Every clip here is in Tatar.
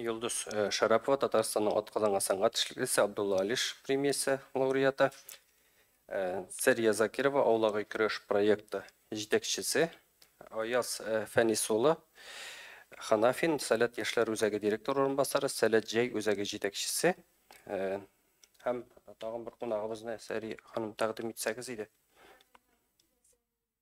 Йолдыз Шәрапова, Татарстанның атказанган сәнгать эшлеклесе, Абдулла Алиш премиясе лауреаты. Сәрия Закирова, Аулагай көрәш проекты җитәкчесе. Аяз Фәнис улы Ханафин, Сәләт яшьләр үзәге директор урынбасары, Сәләт җәй үзәге җитәкчесе. Һәм тагын бер кунагыбызны Сәрия ханым тәкъдим итсәгез иде.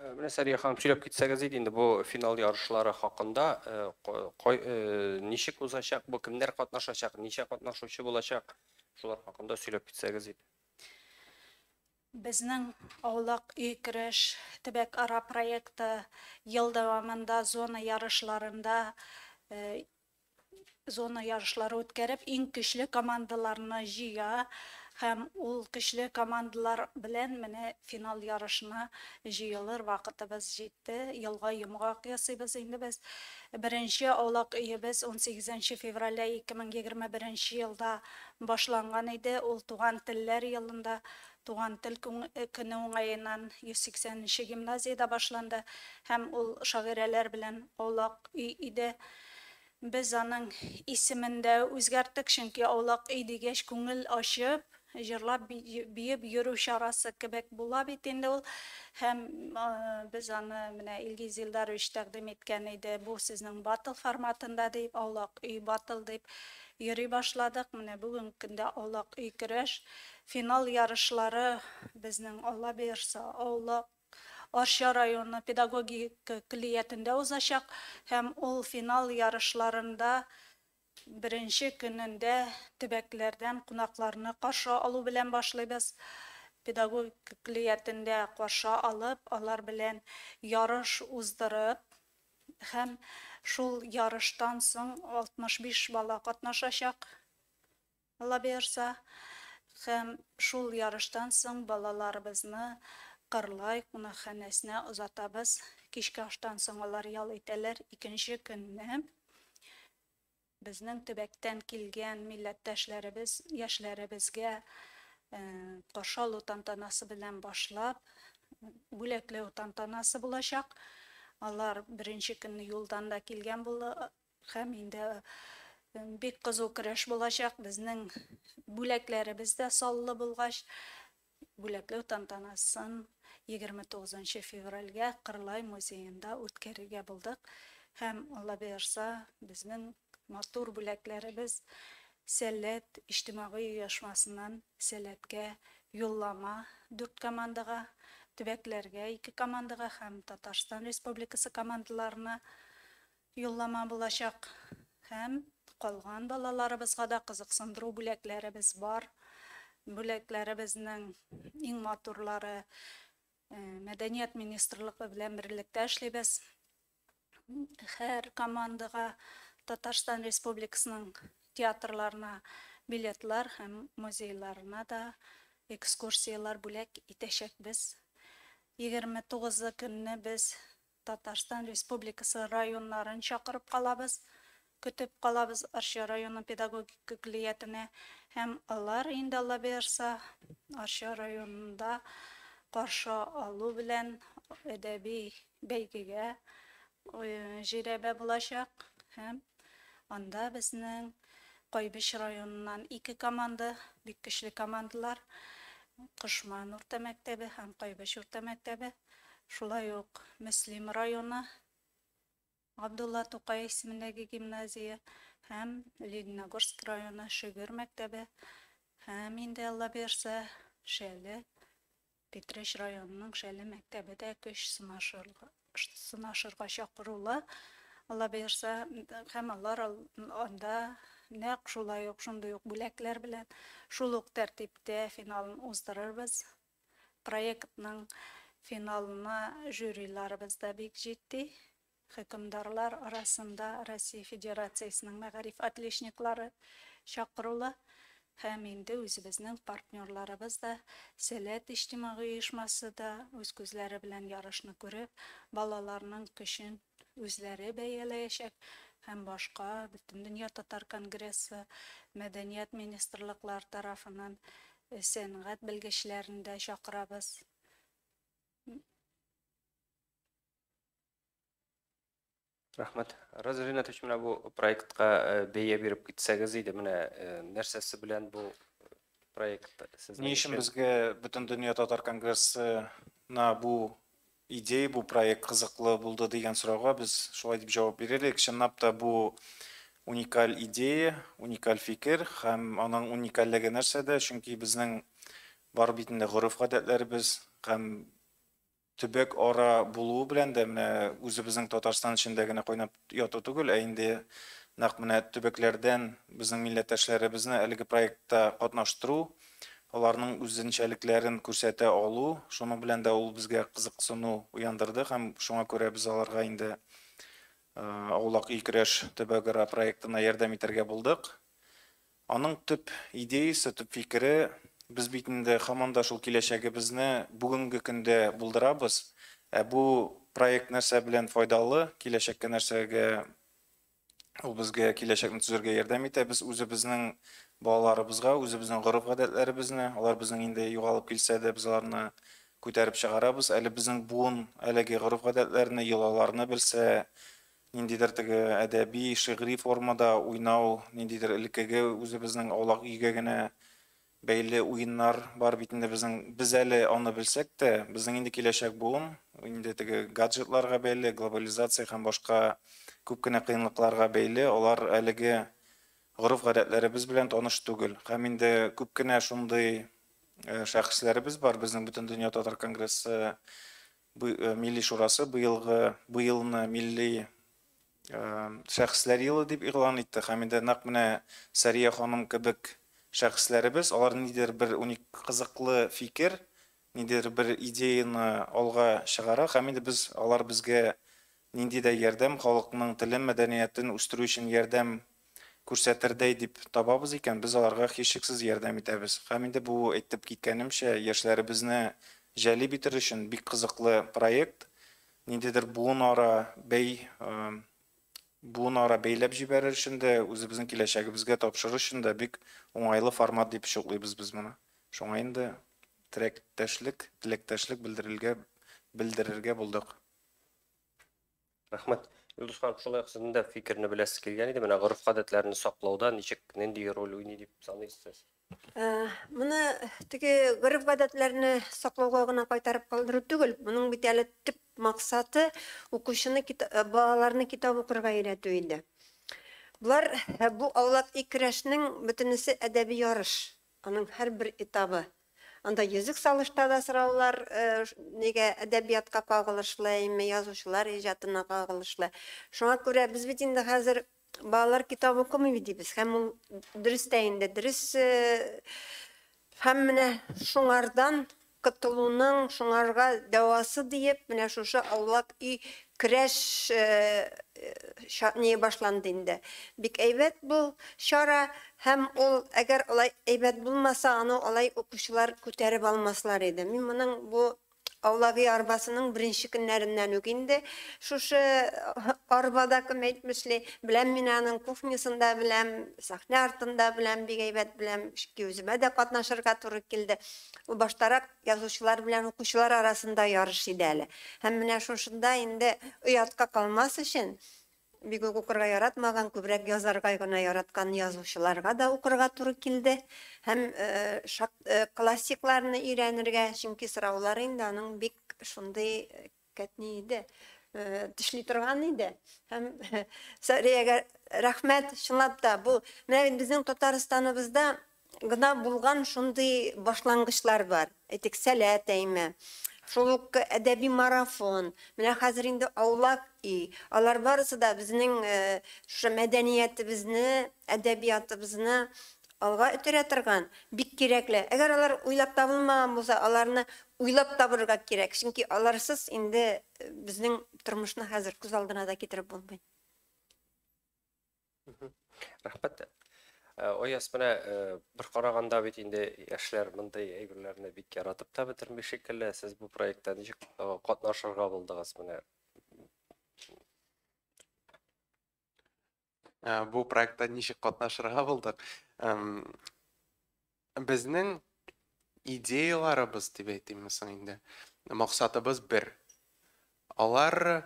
Э, менә сәрия ханым сөйләп китсәгез иде инде бу финал ярышлары хакында э, э, ничек узачак бу кемнәр катнашачак ничә катнашучы булачак шулар хакында сөйләп китсәгез иде Безнең аулак өй кереш төбәк ара проекты ел дәвамында зона ярышларында Зона ярышлары үткәреп, иң көчле командаларны җыя һәм ул көчле командалар белән менә финал ярышына җыелыр вакытыбыз җитте. Елга йомгак ясыйбыз инде без. Беренче аулак өебез унсигез нче февральдә 2021 нче елда башланган иде, ул Туган телләр елында, Туган тел көне уңаеннан 180 нче гимназиядә башланды һәм ул шагыйрәләр белән аулак өй иде. Без аның исемен дә үзгәрттек, чөнки аулак өй дигәч, күңел ачып, җырлап, биеп йөрү чарасы кебек була бит инде ул. Һәм без аны менә Илгиз Илдарович тәкъдим иткән иде, бу сезнең баттл форматында дип, аулак өй баттл дип йөри башладык. Менә бүгенге көндә аулак өй көрәш финал ярышлары безнең, Аллабирса, аулак. Арча районы педагогика көллиятендә узачак һәм ул финал ярышларында беренче көнендә төбәкләрдән кунакларны каршы алу белән башлыйбыз. Педагогика көллиятендә каршы алып, алар белән ярыш уздырып һәм шул ярыштан соң 65 бала катнашачак. Аллабыярса, һәм шул ярыштан соң балаларыбызны Кырлай кунакханәсенә озатабыз. Кичке аштан соң алар ял итәләр. Икенче көнне безнең төбәктән килгән милләттәшләребез яшьләребезгә каршы алу тантанасы белән башлап, бүләкләү тантанасы булачак. Алар беренче көнне юлдан да килгән Һәм инде бик кызу көрәш булачак. Безнең бүләкләребез дә саллы булгач, бүләкләү тантанасын 29 нчы февральгә Кырлай музеенда үткәрергә булдык. Һәм, Алла боерса, безнең матур бүләкләребез Сәләт иҗтимагый оешмасыннан Сәләткә юллама дүрт командага, төбәкләргә ике командага һәм Татарстан Республикасы командаларына Юллама булачак һәм калган балаларыбызга да кызыксындыру бүләкләребез бар. Бүләкләребезнең иң матурлары Мәдәният министрлыгы белән берлектә эшлибез. Һәр командага Татарстан Республикасының театрларына билетлар һәм музейларына да экскурсияләр бүләк итәчәкбез. Егерме тугызы көнне без Татарстан Республикасы районнарын чакырып калабыз, көтеп калабыз Арча районы педагогик көллиятенә һәм алар инде Алла боерса Арча районында каршы алу белән әдәби бәйгегә җирәбә булачак һәм анда безнең Кайбыч районыннан ике команда, бик көчле командалар, Кошман урта мәктәбе һәм Кайбыч урта мәктәбе. шулай ук Мөслим районы, Габдулла Тукай исемендәге гимназия һәм Лениногорск районы Шөгер мәктәбе һәм инде Алла бирсә, Шәле, Питрәч районының Шәле мәктәбе дә көч сынашырга, сынашырга чакырулы. Алла бирсә, һәм алар анда нәкъ шулай ук шундый ук бүләкләр белән шул ук тәртиптә финалын уздырырбыз Проектның финалына жюриларыбыз да бик җитди. Хөкемдарлар арасында Россия Федерациясенең мәгариф отличниклары чакырулы һәм инде үзебезнең партнерларыбыз да, Сәләт иҗтимагый оешмасы да үз күзләре белән ярышны күреп, балаларның көчен үзләре бәяләячәк һәм башка Бөтендөнья татар конгрессы, мәдәният министрлыклар тарафыннан сәнгать белгечләрен дә чакырабыз. Рәхмәт. Раза Ринатович, менә бу проектка э, бәя биреп китсәгез иде, менә э, нәрсәсе белән бу проект сезнең Ни өчен безгә бөтен дөнья татар конгрессына бу Идея бу проект кызыклы булды дигән сорауга без шулай дип җавап бирер идек, чынлап та бу уникаль идея, уникаль фикер һәм аның уникальлеге нәрсәдә, чөнки безнең бар бит инде гореф-гадәтләребез һәм төбәк ара булуы белән дә менә үзебезнең Татарстан эчендә генә кайнап Яту түгел, ә инде нәкъ менә төбәкләрдән безнең милләттәшләребезне әлеге проектта катнаштыру, аларның үзенчәлекләрен күрсәтә алу, шуның белән дә ул безгә кызыксыну уяндырды һәм шуңа күрә без аларга инде Аулак ил-көрәш төбәгара проектына ярдәм итәргә булдык. Аның төп идеясе, төп фикере, без бит инде һаман да шул киләчәгебезне бүгенге көндә булдырабыз. Ә бу проект нәрсә белән файдалы, киләчәккә нәрсәгә ул безгә киләчәкне төзергә ярдәм итә? Без үзебезнең балаларыбызга, үзебезнең гореф-гадәтләребезне, алар безнең инде югалып килсә дә, без аларны күтәреп чыгарабыз. Әле безнең буын әлеге гореф-гадәтләрне, йолаларны белсә, Ниндидер теге әдәби, шигъри формада уйнау, ниндидер элеккеге үзебезнең аулак өйгә генә бәйле уеннар бар бит инде безнең. Без әле аны белсәк тә, безнең инде киләчәк буын инде теге гаджетларга бәйле, глобализация һәм башка күп кенә кыенлыкларга бәйле, алар әлеге гореф-гадәтләребез белән таныш түгел. Һәм инде күп кенә шундый шәхесләребез бар, безнең Бөтендөнья татар конгрессы Милли шурасы быелгы бу елны милли шәхесләр елы дип игълан итте һәм инде нәкъ менә Сәрия ханым кебек шәхесләребез алар нидер бер уник кызыклы фикер, нидер бер идеяны алга чыгара һәм инде без алар безгә нинди дә ярдәм, халыкның телен, мәдәниятен үстерү өчен ярдәм күрсәтердәй дип табабыз икән, без аларга һичшиксез ярдәм итәбез. Һәм инде бу, әйтеп киткәнемчә, яшьләребезне җәлеп итер өчен бик кызыклы проект. Ниндидер буынара бәй, буынара бәйләп җибәрер өчен дә, үзебезнең киләчәгебезгә тапшырыр өчен дә бик уңайлы формат дип чуклыйбыз без моны. Шуңа инде терәктәшлек, теләктәшлек белдерелгә, белдерергә булдык. Рәхмәт. Илдус ханым, шулай ук сезнең дә фикерне беләсе килгән иде, менә гореф-гадәтләрне саклауда ничек, нинди роль уйный дип саныйсыз сез? Моны теге гореф-гадәтләрне саклауга гына кайтарып калдыру түгел, моның бит әле төп максаты укучыны балаларны китап укырга өйрәтү иде. Болар бу аулак икерәшнең бөтенесе әдәби ярыш. Аның һәрбер этабы. Анда йөзек салышта да сораулар нигә әдәбиятка кагылышлы, әйме, язучылар иҗатына кагылышлы. Шуңа күрә без бит инде хәзер балалар китап укымый бит дибез. Һәм ул дөрес тә инде, дөрес. Һәм менә шуңардан Котылуның шуңарга дәвасы диеп, менә шушы аулак өй крәш чатные башланды инде. Бик әйбәт бу чара һәм ул әгәр алай әйбәт булмаса, аны алай укучылар күтәреп алмаслар иде. Мин моның бу аулак өй арбасының беренче көннәреннән үк инде шушы арбада кем әйтмешли, беләм мин аның кухнясын да беләм, сәхнә артын да беләм, бик әйбәт беләм, чөнки үземә дә катнашырга туры килде. Ул баштарак язучылар белән укучылар арасында ярыш иде әле. Һәм менә шушында инде оятка калмас өчен, бик үк укырга яратмаган, күбрәк язарга гына яраткан язучыларга да укырга туры килде. Һәм классикларны өйрәнергә, чөнки сораулары инде аның бик шундый Кәтни иде, тешли торган иде. Һәм Сәриягә рәхмәт, чынлап та, бу менә бит безнең Татарстаныбызда гына булган шундый башлангычлар бар. Әйтик, Сәләт әйме, шул ук әдәби марафон, менә хәзер инде Аулак өй, алар барысы да безнең шушы мәдәниятебезне, әдәбиятыбызны Алга өтерә торган, бик кирәкле. Әгәр алар уйлап табылмаган булса, аларны уйлап табырга кирәк, чөнки аларсыз инде безнең тормышны хәзер күз алдына да китереп булмый. Рәхмәт. Ояз менә бер караганда бит инде яшьләр мондый әйберләрне бик яратып та бетерми шикелле. Сез бу проектта ничек катнашырга булдыгыз менә? э, бу проектта ничек катнашырга булдык. Безнең идеяларыбыз дип әйтимме соң инде. Максатыбыз бер. Алар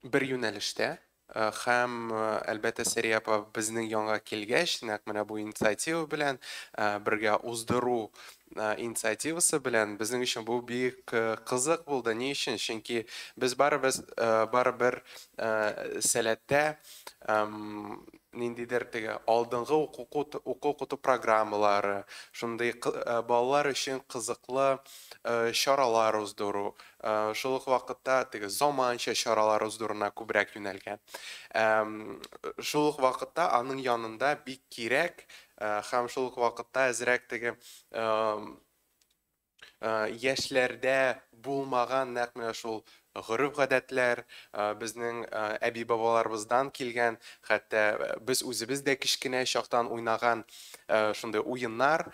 бер юнәлештә э, һәм э, әлбәттә Сәрия апа безнең янга килгәч, нәкъ менә бу инициатива белән бергә уздыру инициативасы белән. Безнең өчен бу бик кызык булды. Ни өчен? Чөнки без барыбыз барыбер сәләттә ниндидер теге алдынгы уку-укыту программалары, шундый балалар өчен кызыклы чаралар уздыру, шул ук вакытта теге заманча чаралар уздыруына күбрәк юнәлгән. Шул ук вакытта аның янында бик кирәк Э, һәм шул ук вакытта әзрәк теге э, э, яшьләрдә булмаган нәкъ менә шул гореф гадәтләр безнең әби бабаларыбыздан килгән хәтта без үзебез дә кечкенә чактан уйнаган шундый уеннар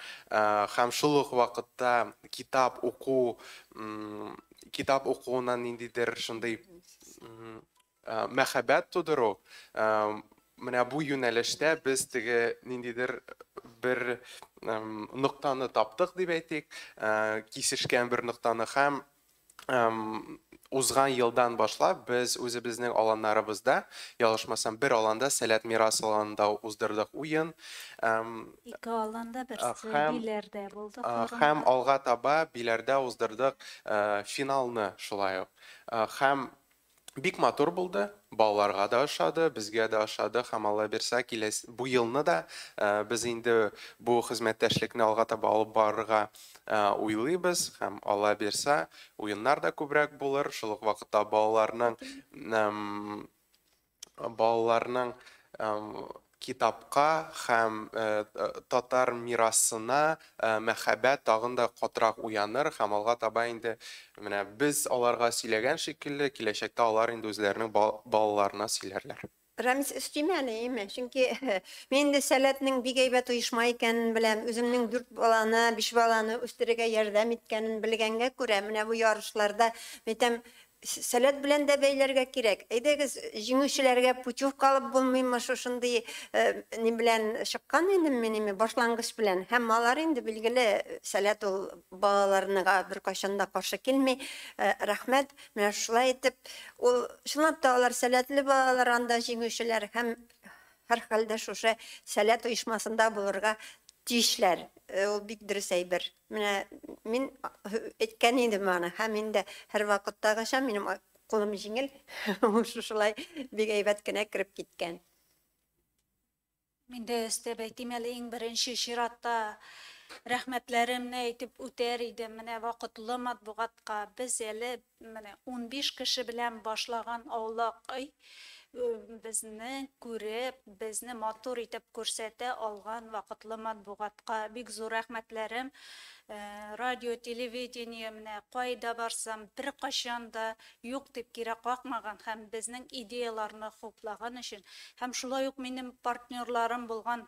һәм шул ук вакытта китап уку китап укуына ниндидер шундый Мәхәббәт тудыру, менә бу юнәлештә без теге ниндидер бер ноктаны таптык дип әйтик, кисешкән бер ноктаны һәм узган елдан башлап без үзебезнең аланнарыбызда, ялгышмасам, бер аланда, Сәләт Мирас аланында уздырдык уен. Ике аланда, берсе Биләрдә булды карында. Һәм алга таба Биләрдә уздырдык финалны шулай ук. Һәм Бик матур булды, балаларга да ошады, безгә дә ошады һәм Аллабирса киләс бу елны да без инде бу хезмәттәшлекне алга таба алып барырга уйлыйбыз һәм Аллабирса уеннар да күбрәк булыр, шул ук вакытта балаларның балаларның Китапка һәм татар мирасына мәхәббәт тагын да катырак уяныр һәм алга таба инде менә без аларга сөйләгән шикелле, киләчәктә алар инде үзләренең балаларына сөйләрләр. Рәмис өстиме әле, име? Чөнки мин инде Сәләтнең бик әйбәт оешма икәнен беләм, үземнең дүрт баланы, биш баланы үстерергә ярдәм иткәнен белгәнгә күрә, менә бу ярышларда, мәйтәм, Сәләт белән дә бәйләргә кирәк. Әйдәгез, җиңүчеләргә путевка алып булмыймы, шушындый ни белән чыккан идем мин, ими, башлангыч белән. Һәм алар инде, билгеле, сәләт ул балаларныга беркайчан да каршы килми. Рәхмәт. Менә шулай итеп, ул, чынлап та, алар сәләтле балалар анда җиңүчеләр һәм Һәрхәлдә шушы Сәләт оешмасында булырга тиешләр. Ул бик дөрес әйбер. Менә мин әйткән идем аны, һәм инде һәрвакыттагыча минем кулым җиңел, ул шушылай бик әйбәт кенә кереп киткән. Мин дә өстәп әйтим әле, иң беренче чиратта рәхмәтләремне әйтеп үтәр идем менә вакытлы матбугатка. Без әле Менә унбиш кеше белән башлаган аулак өй безне күреп, безне матур итеп күрсәтә алган вакытлы матбугатка бик зур рәхмәтләрем. Радио, телевидение менә кайда барсам, беркайчан да юк дип кире какмаган һәм безнең идеяларны хуплаган өчен һәм шулай ук минем партнерларым булган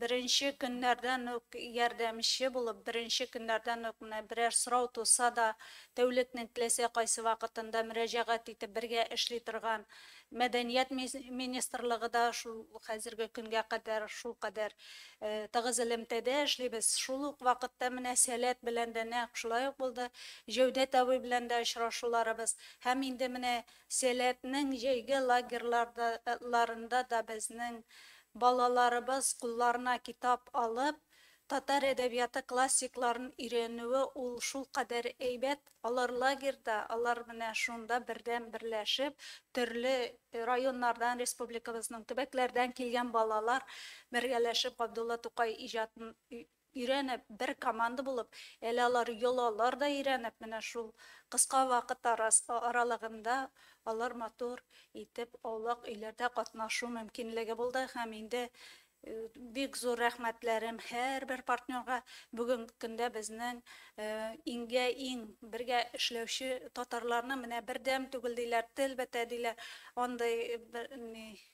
Беренче көннәрдән үк ярдәмче булып, беренче көннәрдән үк менә берәр сорау туса да, тәүлекнең теләсә кайсы вакытында мөрәҗәгать итеп бергә эшли торган Мәдәният министрлыгы да шул хәзерге көнгә кадәр шулкадәр тыгыз элемтәдә эшлибез. Шул ук вакытта менә Сәләт белән дә нәкъ шулай ук булды. Җәүдәт абый белән дә очрашуларыбыз һәм инде менә Сәләтнең җәйге лагерьларда ларында да безнең Балаларыбыз кулларына китап алып, татар әдәбияты классикларын өйрәнүе ул шулкадәр әйбәт, алар лагерьда, алар менә шунда бердәм берләшеп, төрле районнардан, республикабызның төбәкләрдән килгән балалар бергәләшеп Габдулла Тукай иҗатын Өйрәнеп, бер команда булып, әле алар йолалар да өйрәнеп, менә шул кыска вакыт аралыгында алар матур итеп аулак өйләрдә катнашу мөмкинлеге булды һәм инде бик зур рәхмәтләрем һәрбер партнерга, бүгенге көндә безнең иңгә иң бергә эшләүче татарларны менә бердәм түгел диләр, тел бетә диләр, андый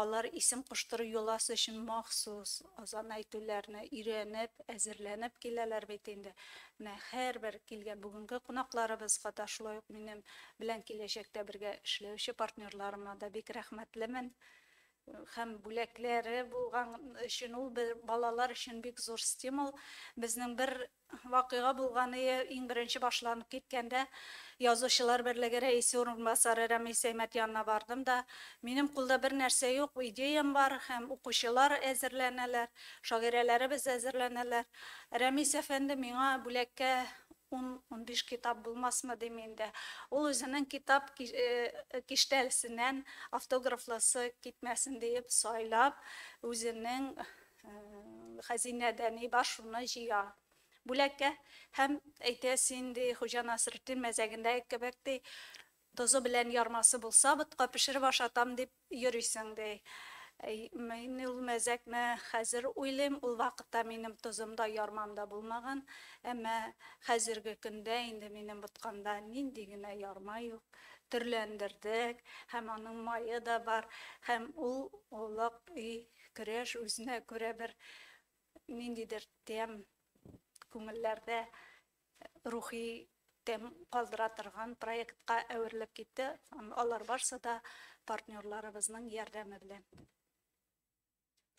Алар исем куштыру йоласы өчен махсус азан әйтүләрне өйрәнеп, әзерләнеп киләләр бит инде. Менә һәрбер килгән бүгенге кунакларыбызга да, шулай ук минем белән киләчәктә бергә эшләүче партнерларыма да бик рәхмәтлемен. Һәм бүләкләре булган өчен ул балалар өчен бик зур стимул. Безнең бер Вакыйга булганые иң беренче башланып киткәндә, Язучылар берлеге рәисе урынбасары Рәмис Әймәт янына бардым да, Минем кулда бер нәрсә юк, идеям бар һәм укучылар әзерләнәләр, шагыйрәләребез әзерләнәләр. Рәмис әфәнде миңа бүләккә ун-унбиш китап булмасмы дим инде. Ул үзенең китап киштәлсеннән автографлысы китмәсен диеп сайлап, үзенең хәзинәдә ни бар, шуны җыя. Бүләккә һәм әйтә син, ди, Хуҗа Насретдин мәзәгендәге кебек, ди, тозы белән ярмасы булса, ботка пешереп ашатам дип йөрисең, ди. Мин ул мәзәкне хәзер уйлыйм, ул вакытта минем тозым да, ярмам да булмаган, әмма хәзерге көндә инде минем боткамда нинди генә ярма юк, төрләндердек, һәм аның мае да бар, һәм ул олуг өй Көрәш үзенә күрә бер ниндидер тәм, күңелләрдә рухи тәм калдыра торган проектка әверелеп китте. Алар барсы да партнерларыбызның ярдәме белән.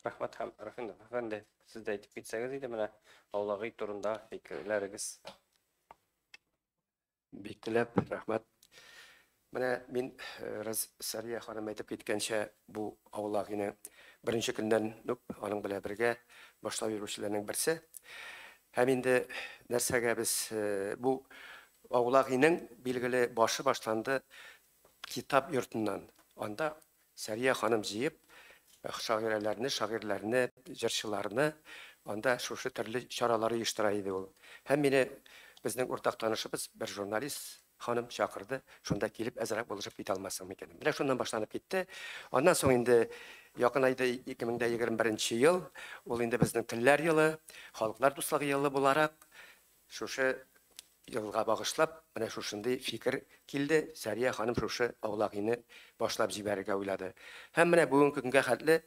Рәхмәт һәм Рафинов әфәнде, сез дә әйтеп китсәгез иде менә Аулагый турында фикерләрегез. Бик теләп, рәхмәт. Менә мин, рас, Сәрия ханым әйтеп киткәнчә, бу авылга генә беренче көннән үк аның белән бергә башлап йөрүчеләрнең берсе. Һәм инде нәрсәгә без бу авылга генең билгеле башы башланды Китап йортыннан. Анда Сәрия ханым җыеп, шагыйрәләрне, шагыйрьләрне, җырчыларны, анда шушы төрле чаралар оештыра иде ул. Һәм мине безнең уртак танышыбыз, бер журналист ханым чакырды, шунда килеп әзрәк булышып китә алмассың микән? Менә шуннан башланып китте. Аннан соң инде якынайды 2021 нче ел, ул инде безнең телләр елы, халыклар дуслыгы елы буларак, Шушы елга багышлап, менә шушындый фикер килде, Сәрия ханым шушы Аулагине башлап җибәрергә уйлады. Һәм менә бүгенге көнгә хәтле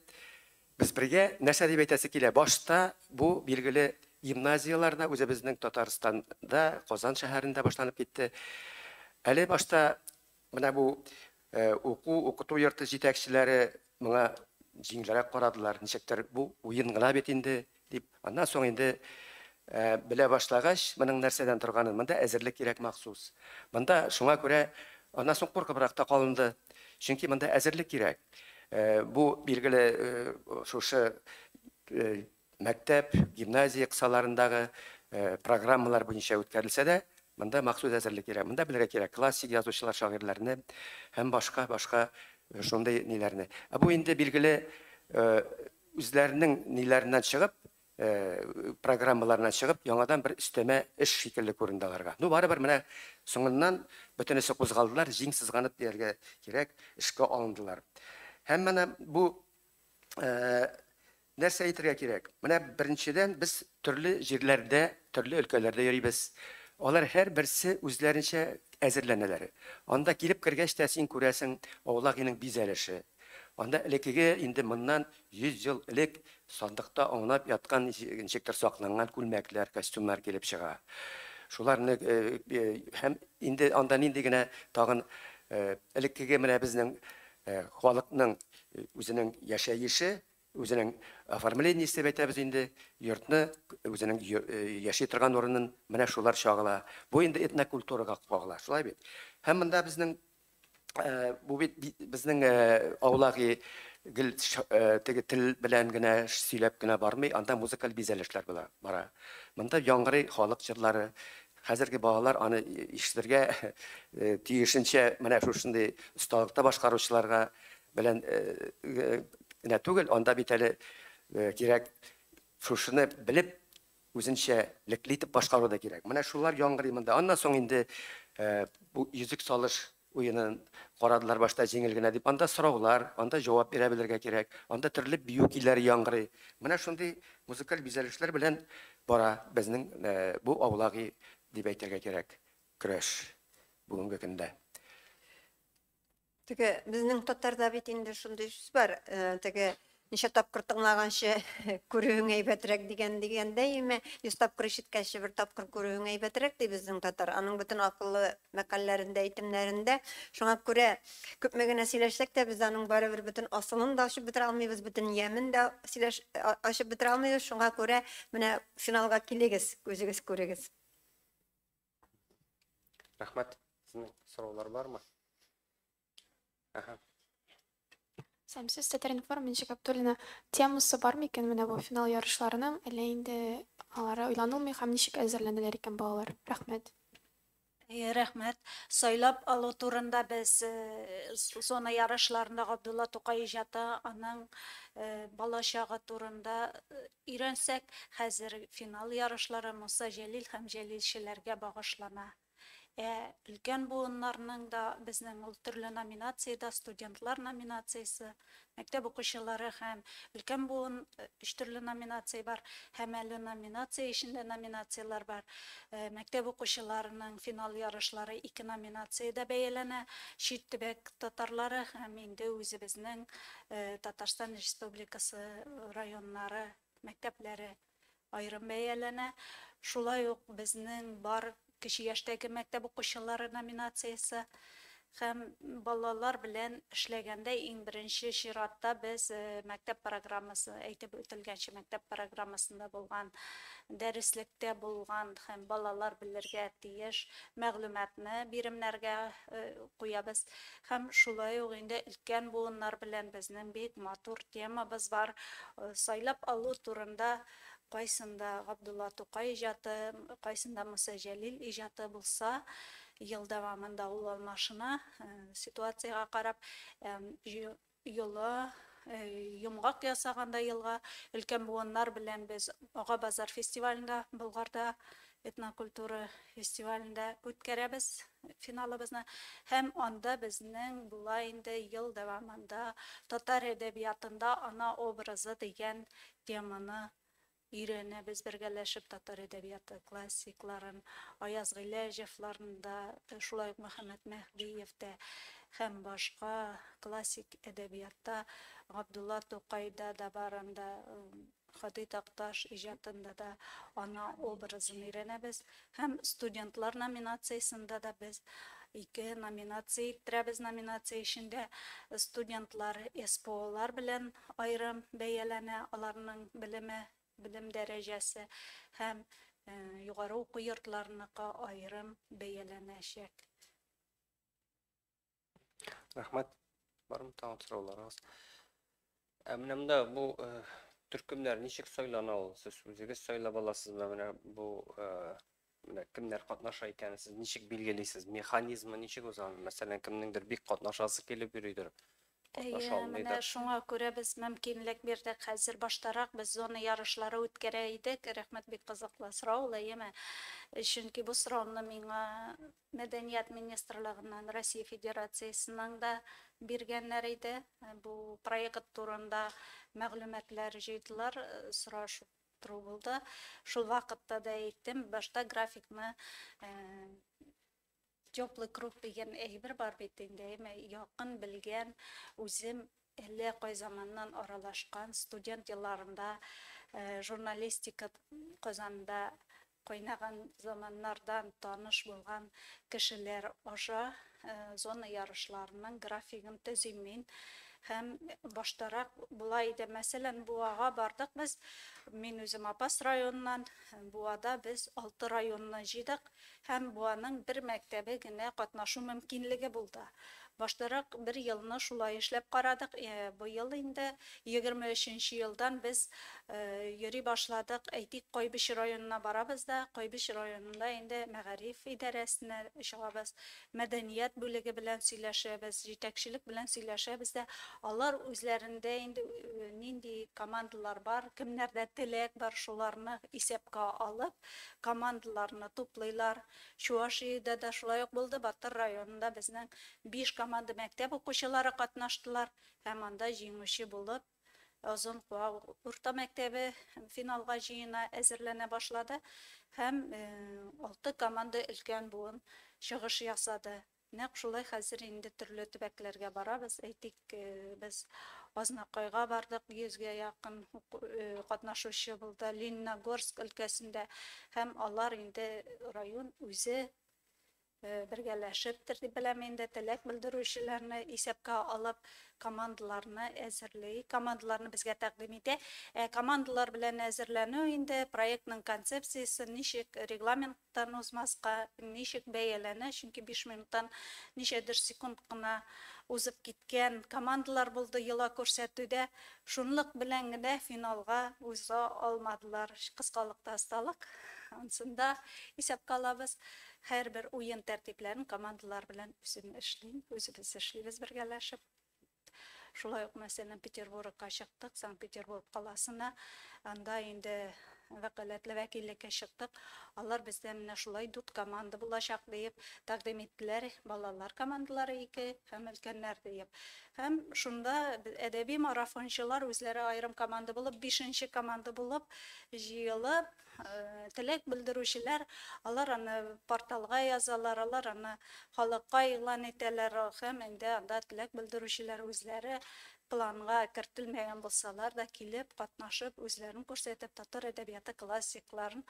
без бергә. Нәрсә дип әйтәсе килә, башта бу, билгеле, гимназияләрдә, үзебезнең Татарстанда, Казан шәһәрендә башланып китте. Әле башта Менә бу уку, укыту йорты җитәкчеләре моңа җиңелрәк карадылар, ничектер бу уен гына бит инде, дип. Аннан соң инде белә башлагач, моның нәрсәдән торганын, монда әзерлек кирәк махсус. Монда шуңа күрә аннан соң куркыбрак та калынды, чөнки монда әзерлек кирәк. Бу, билгеле, шушы Мәктәп, гимназия кысаларындагы программалар буенча үткәрелсә дә, монда махсус әзерлек кирәк. Монда белергә кирәк классик язучылар, шагыйрьләрне һәм башка, башка шундый ниләрне. Ә бу инде билгеле үзләренең ниләреннән чыгып, программаларыннан чыгып, яңадан бер өстәмә эш шикелле күренде аларга. Ну, барыбер менә соңыннан бөтенесе кузгалдылар, җиң сызганып дияргә кирәк, эшкә алындылар. Һәм менә бу нәрсә әйтергә кирәк? Менә беренчедән без төрле җирләрдә, төрле өлкәләрдә йөрибез. Алар һәрберсе үзләренчә әзерләнәләр. Анда килеп кергәч тә син күрәсең Аулагиның бизәлеше. Анда элеккеге инде моннан 100 ел элек сандыкта аунап яткан ничектер сакланган күлмәкләр, костюмнар килеп чыга. Шуларны һәм инде анда нинди генә тагын элеккеге менә безнең халыкның Үзенең яшәеше, үзенең оформлениесе дип әйтәбез инде, йортны, үзенең яши торган урынын, менә шулар чагыла. Бу инде этнокультурага кагыла, шулай бит? Һәм монда безнең, бу бит безнең Аулаги гел теге тел белән генә сөйләп кенә бармый, анда музыкаль бизәлешләр була, бара. Монда яңгырый халык җырлары, Хәзерге балалар аны ишетергә тиешенчә менә шушындый осталыкта башкаручыларга белән генә түгел, анда бит әле кирәк шушыны белеп үзенчәлекле итеп башкару да кирәк. Менә шулар яңгырый монда. Аннан соң инде бу йөзек салыш Уенын карадылар башта җиңел генә дип. Анда сораулар, анда җавап бирә белергә кирәк. Анда төрле бию көйләре яңгырый. Менә шундый музыкаль бизәлешләр белән бара безнең бу аулаги дип әйтергә кирәк көрәш бүгенге көндә. Теге безнең татарда бит инде шундый сүз бар, теге Ничә тапкыр тыңлаганчы күрүең әйбәтрәк дигән дигәндәй име, йөз тапкыр ишеткәнче бер тапкыр күрүең әйбәтрәк, ди безнең татар. Аның бөтен акыллы мәкальләрендә, әйтемнәрендә. Шуңа күрә күпме генә сөйләшсәк тә, без аның барыбер бөтен асылын да ачып бетерә алмыйбыз, бөтен ямен дә сөйләш ачып бетерә алмыйбыз. Шуңа күрә менә финалга килегез, үзегез күрегез. Рәхмәт. Сезнең сораулар бармы? Сәм, сез Татар-информ, Мин Габдуллина. Темасы бар микән менә бу финал ярышларының? Әллә инде алары уйланылмый һәм ничек әзерләнәләр икән балалар? Рәхмәт. Әйе, рәхмәт. Сайлап алу турында без зона ярышларында Габдулла Тукай иҗаты, аның балачагы турында өйрәнсәк, хәзер финал ярышлары Муса Җәлил һәм җәлилчеләргә багышлана. Ә өлкән буыннарның да безнең ул төрле номинациядә, студентлар номинациясе, мәктәп укучылары һәм өлкән буын өч төрле номинация бар. Һәм әле номинация эчендә номинацияләр бар. Мәктәп укучыларының финал ярышлары ике номинациядә бәяләнә, чит төбәк татарлары һәм инде үзебезнең Татарстан Республикасы районнары мәктәпләре. аерым бәяләнә. Шулай ук безнең бар кече яшьтәге мәктәп укучылары номинациясе һәм балалар белән эшләгәндә иң беренче чиратта без мәктәп программасы, әйтеп үтелгәнчә, мәктәп программасында булган, дәреслектә булган һәм балалар белергә тиеш мәгълүматны биремнәргә куябыз. Һәм шулай ук инде өлкән буыннар белән безнең бик матур темабыз бар, сайлап алу турында кайсында Габдулла Тукай иҗаты, кайсында Муса Җәлил иҗаты булса, ел дәвамында ул алмашына, ситуациягә карап, Йола, йомгак ясаганда елга, өлкән буыннар белән без Ага базар фестивалендә, Болгарда этнокультура фестивалендә үткәрәбез финалыбызны. Һәм анда безнең була инде ел дәвамында Татар әдәбиятында ана образы дигән теманы Өйрәнәбез бергәләшеп татар әдәбияты классикларын, Аяз Гыйләҗевларны да, шулай ук Мөхәммәт Мәһдиев тә һәм башка классик әдәбиятта Габдулла Тукайда да бар анда, Һади Такташ иҗатында да аның образын өйрәнәбез. Һәм студентлар номинациясендә дә без ике номинация иттерәбез, номинация эчендә студентлар СПОлар белән аерым бәяләнә, аларның белеме, белем дәрәҗәсе һәм югары уку йортларыныкы аерым бәяләнәчәк. Рәхмәт. Бармы тагын сорауларыгыз? Ә менә монда бу э, төркемнәр ничек сайлана ул? Сез үзегез сайлап аласызмы? Менә бу э, менә кемнәр катнаша икәнен сез ничек билгелисез? Механизмы ничек узган? Мәсәлән, кемнеңдер бик катнашасы килеп йөридер. Катнаша алмыйдыр. Менә шуңа күрә без мөмкинлек бирдек. Хәзер баштарак без зона ярышлары үткәрә идек. Рәхмәт бик кызыклы сорау, Лаема. Чөнки бу сорауны миңа Мәдәният министрлыгыннан Россия Федерациясенең дә биргәннәр иде. Бу проект турында мәгълүматлар җыйдылар, сорашып тору булды. Шул вакытта да әйттем, башта графикны теплый круг дигән әйбер бар бит инде, әйме, якын белгән, үзем әллә кай заманнан аралашкан, студент елларында журналистика Казанда Кайнаган заманнардан таныш булган кешеләр аша зона ярышларының графигын төзим мин. Һәм баштарак болай иде, мәсәлән, Буага бардык без, мин үзем Апас районыннан, Буада без алты районны җыйдык һәм Буаның бер мәктәбе генә катнашу мөмкинлеге булды. Баштарак бер елны шулай эшләп карадык, быел инде, егерме өченче елдан без йөри башладык. Әйтик, Кайбыч районына барабыз да, Кайбыч районында инде мәгариф идарәсенә чыгабыз, мәдәният бүлеге белән сөйләшәбез, җитәкчелек белән сөйләшәбез дә, алар үзләрендә инде нинди командалар бар, кемнәрдә теләк бар, шуларны исәпкә алып, командаларны туплыйлар. Чувашиядә дә шулай ук булды, Батыр районында безнең биш команда мәктәп укучылары катнаштылар һәм анда җиңүче булып Озын Куа урта мәктәбе финалга җыена, әзерләнә башлады һәм алты команда өлкән буын чыгыш ясады. Нәкъ шулай хәзер инде төрле төбәкләргә барабыз. Әйтик, без Азнакайга бардык, йөзгә якын катнашучы булды, Лениногорск өлкәсендә һәм алар инде район үзе бергәләшептер дип беләм инде, теләк белдерүчеләрне исәпкә алып, командаларны әзерли, командаларны безгә тәкъдим итә. Ә командалар белән әзерләнү инде проектның концепциясе ничек, регламент минуттан узмаска ничек бәяләнә, чөнки биш минуттан ничәдер секунд кына узып киткән командалар булды йола күрсәтүдә, шунлык белән генә финалга уза алмадылар. Кыскалык та осталык, ансын да исәпкә алабыз. Һәрбер уен тәртипләрен командалар белән үзем эшлим, үзебез эшлибез бергәләшеп. Шулай ук, мәсәлән, Петербургка чыктык, Санкт-Петербург каласына. Анда инде вәкаләтле вәкиллеккә чыктык. Алар бездә менә шулай дүрт команда булачак диеп тәкъдим иттеләр. Балалар командалары ике һәм өлкәннәр диеп. Һәм шунда әдәби марафончылар үзләре аерым команда булып, бишенче команда булып җыелып, теләк белдерүчеләр, алар аны порталга язалар, алар аны халыкка игълан итәләр һәм инде анда теләк белдерүчеләр үзләре планга кертелмәгән булсалар да килеп, катнашып, үзләрен күрсәтеп, татар әдәбияты классикларын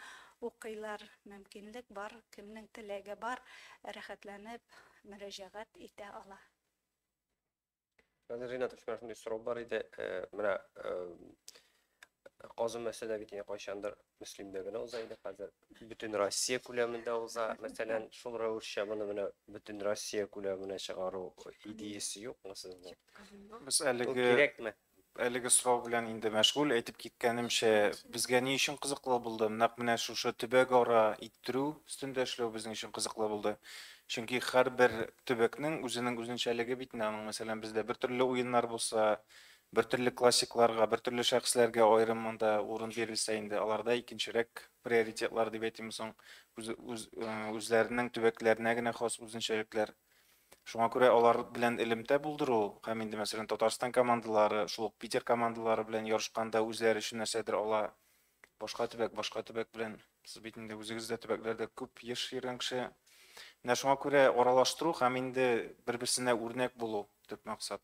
укыйлар. Мөмкинлек бар, кемнең теләге бар, рәхәтләнеп мөрәҗәгать итә ала. Хәзер Ринат Усман шундый сорау бар иде. Э, менә э, Казан мәсьәлә бит инде кайчандыр Мөслимдә генә уза иде. Хәзер бөтен Россия күләмендә уза. Мәсәлән, шул рәвешчә моны менә бөтен Россия күләменә чыгару идеясе юкмы сезнең? Без әлеге кирәкме? Әлеге сорау белән инде мәшгуль. Әйтеп киткәнемчә, безгә ни өчен кызыклы булды? Нәкъ менә шушы төбәкара иттерү өстендә эшләү безнең өчен кызыклы булды. Чөнки һәрбер төбәкнең үзенең үзенчәлеге бит инде аның. Мәсәлән, бездә бертөрле уеннар булса, бертөрле классикларга, бертөрле шәхесләргә аерым монда урын бирелсә инде, аларда икенчерәк приоритетлар дип әйтимме соң, үз, үз, э, үзләренең төбәкләренә генә хас үзенчәлекләр. Шуңа күрә алар белән элемтә булдыру һәм инде, мәсәлән, Татарстан командалары, шул ук Питер командалары белән ярышканда үзләре өчен нәрсәдер ала. Башка төбәк, башка төбәк белән. Сез бит инде үзегез дә төбәкләрдә күп еш йөргән кеше. Менә шуңа күрә аралаштыру һәм инде бер-берсенә үрнәк булу төп максат.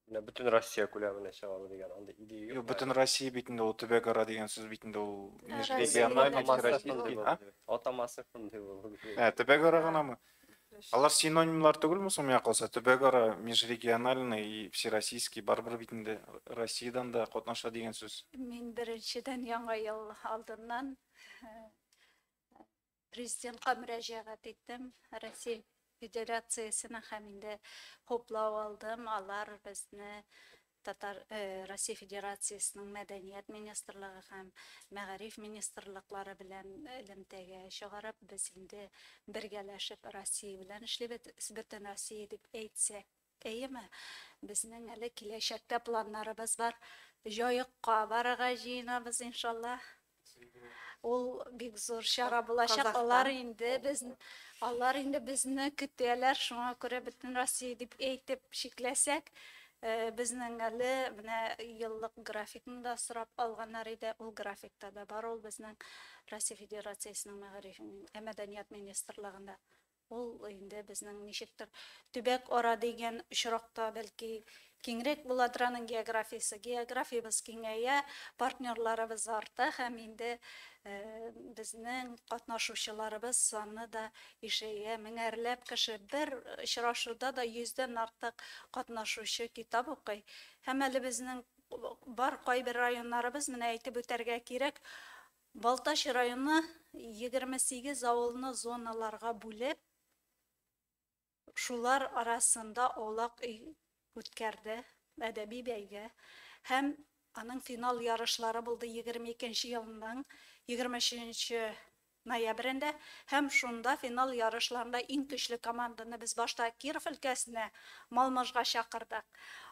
Менә бөтен Россия күләменә чыгабыз дигән андый идея Юк, юк. бөтен Россия бит инде ул төбәк ара дигән сүз бит инде ул. Ә, Меж- Россия региональ, дигән Атамасы Россия шундый дигән, а? булды. Атамасы шундый булды. Ә, төбәк ара гынамы? Алар синонимнар түгелме соң миңа калса? Төбәк ара, межрегиональный и всероссийский барыбер бит инде Россиядән дә катнаша дигән сүз. Мин беренчедән яңа ел алдыннан э, Президентка мөрәҗәгать иттем, Россия Федерациясенең һәм инде хуплау алдым. Алар безне Татар Россия Федерациясенең мәдәният министрлыгы һәм мәгариф министрлыклары белән элемтәгә чыгарып, без инде бергәләшеп Россия белән эшлибез, бөтен Россия дип әйтсәк Әйеме? Безнең әле киләчәккә планнарыбыз бар. Җаекка барырга җыенабыз, иншаллаһ. Ул бик зур чара булачак. Алар инде без алар инде безне көтәләр, шуңа күрә бөтен Россия дип әйтеп чикләсәк, Э, безнең әле менә еллык графикны да сорап алганнар иде ул графикта да бар ул безнең россия федерациясенең мәгариф ә мәдәният министрлыгында Ул инде безнең ничектер төбәк ара дигән очракта, бәлки, киңрәк буладыр аның географиясе. Географиябез киңәя, партнерларыбыз арта һәм инде безнең катнашучыларыбыз саны да ишәя. Меңәрләп кеше бер очрашуда да йөздән артык катнашучы китап укый. Һәм әле безнең бар кайбер районнарыбыз, менә әйтеп үтәргә кирәк, Балтач районы егерме сигез авылны зоналарга бүлеп, шулар арасында аулак өй үткәрде, әдәби бәйге һәм аның финал ярышлары булды егерме икенче елның егерме өченче ноябрендә һәм шунда финал ярышларында иң көчле команданы без башта Киров өлкәсенә, Малмыжга чакырдык.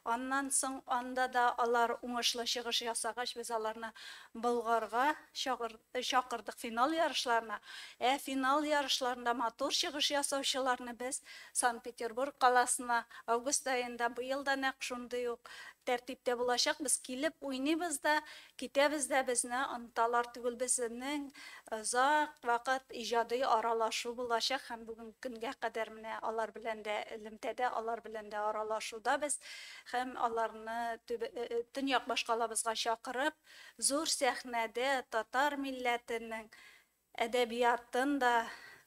Аннан соң анда да алар уңышлы чыгыш ясагач, без аларны Болгарга чакырдык финал ярышларына. Ә финал ярышларында матур чыгыш ясаучыларны без Санкт-Петербург каласына август аенда, быел да нәкъ шундый ук тәртиптә булачак, без килеп уйныйбыз да Китәбез дә безне оныталар түгел, безнең озак вакыт иҗади аралашу булачак һәм бүгенге көнгә кадәр менә алар белән дә элемтәдә, алар белән дә аралашуда без һәм аларны төньяк башкалабызга чакырып, зур сәхнәдә татар милләтенең Әдәбиятын да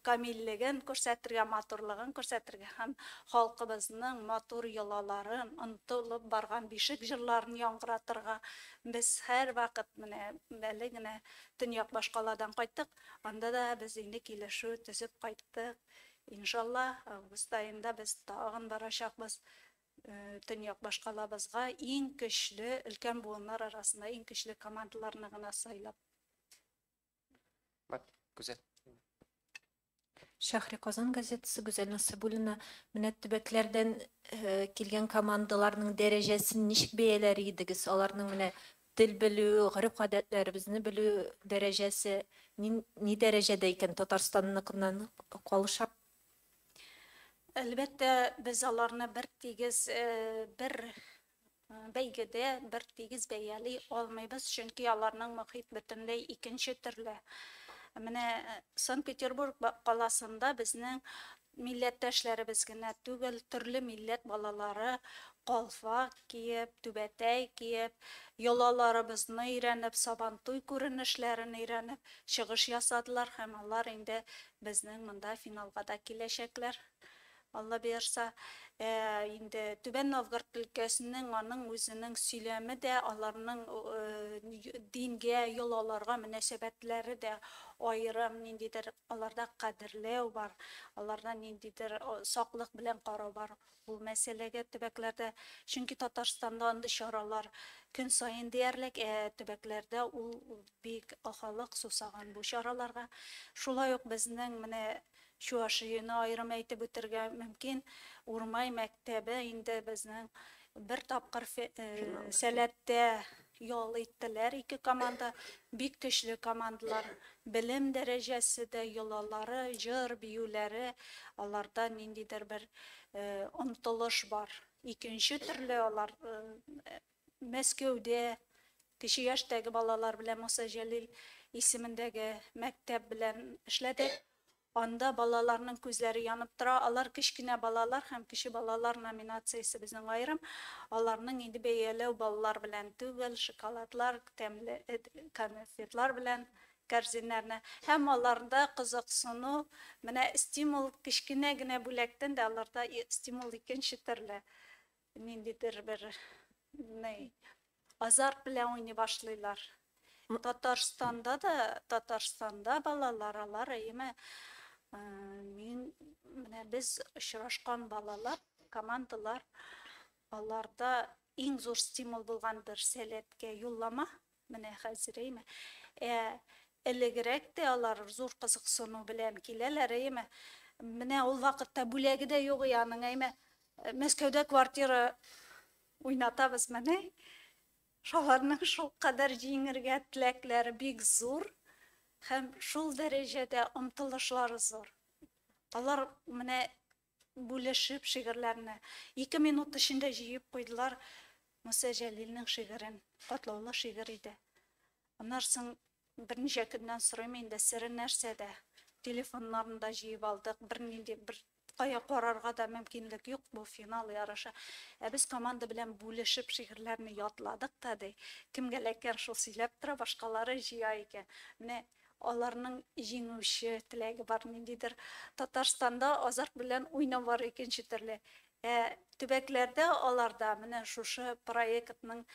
камиллеген күрсәтергә, матурлыгын күрсәтергә һәм халкыбызның матур йолаларын, онытылып барган бишек җырларын яңгыратырга без һәрвакыт менә әле генә Төньяк башкаладан кайттык, анда да без инде килешү төзеп кайттык. Иншалла, август аенда без тагын барачакбыз Төньяк башкалабызга, иң көчле, өлкән буыннар арасында иң көчле командаларны гына сайлап. Мат, Гүзәл. Шәһри Казан газетасы Гүзәл Насыбуллина менә төбәкләрдән э, килгән командаларның дәрәҗәсен ничек бәяләр идегез? Аларның менә тел белү, гореф-гадәтләребезне белү дәрәҗәсе ни, ни дәрәҗәдә икән Татарстанныкыннан калыша? Әлбәттә, без аларны бер тигез, э, бер Бәйгедә бер тигез бәяли алмыйбыз, чөнки аларның мохит бөтенләй икенче төрле. Менә Санкт-Петербург каласында безнең милләттәшләребез генә түгел, төрле милләт балалары калфак киеп, түбәтәй киеп, йолаларыбызны өйрәнеп, Сабантуй күренешләрен өйрәнеп, чыгыш ясадылар һәм алар инде безнең монда финалга да киләчәкләр. Алла боерса, инде Түбән Новгород өлкәсенең, аның үзенең сөйләме дә, аларның дингә, йолаларга мөнәсәбәтләре дә аерым, ниндидер аларда кадерләү бар, аларда ниндидер саклык белән карау бар бу мәсьәләгә төбәкләрдә. Чөнки Татарстанда андый чаралар көн саен диярлек, ә төбәкләрдә ул бик халык сусаган бу чараларга. Шулай ук безнең менә Чуашияне аерым әйтеп үтергә мөмкин, Урмай мәктәбе инде безнең бер тапкыр Сәләттә ял иттеләр ике команда, бик көчле командалар, белем дәрәҗәсе дә, йолалары, җыр, биюләре, аларда ниндидер бер омтылыш бар, икенче төрле алар Мәскәүдә кече яшьтәге балалар белән Муса Җәлил исемендәге мәктәп белән эшләдек. Анда балаларның күзләре янып тора. Алар кечкенә балалар һәм кече балалар номинациясе безнең аерым. Аларның инде бәяләү баллар белән түгел, шоколадлар, тәмле конфетлар белән кәрзиннәрне һәм аларда кызыксыну, менә стимул, кечкенә генә бүләктән дә аларда стимул икенче төрле. Ниндидер бер ни азарт белән уйный башлыйлар. Татарстанда да, Татарстанда балалар алар әйеме э, мин менә без очрашкан балалар, командалар аларда иң зур стимул булган бер сәләткә юллама Менә хәзер, әйме. Ә элегрәк тә алар зур кызыксыну белән киләләр, әйме. Менә ул вакытта бүләге дә юк и аның, әйме. Мәскәүдә квартира уйнатабыз, менә. Шаларның шул кадәр җиңергә теләкләре бик зур һәм шул дәрәҗәдә омтылышлары зур. Алар менә бүлешеп шигырьләрне ике минут эчендә җыеп куйдылар. Муса Җәлилнең шигырен, катлаулы шигырь иде. Аннан соң берничә көннән сорыйм инде, сере нәрсәдә? Телефоннарын да җыеп алдык, бернинди бер кая карарга да мөмкинлек юк, бу финал ярышы. Ә без команда белән бүлешеп шигырьләрне ятладык та, ди. Кемгә эләккән шул сөйләп тора, башкалары җыя икән. Менә Аларның җиңүче теләге бар, ниндидер Татарстанда азарт белән уйнау бар икенче төрле. Ә төбәкләрдә алар да менә шушы проектның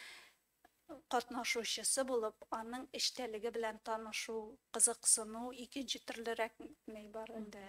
катнашучысы булып, аның эчтәлеге белән танышу, кызыксыну икенче төрлерәкми бар инде.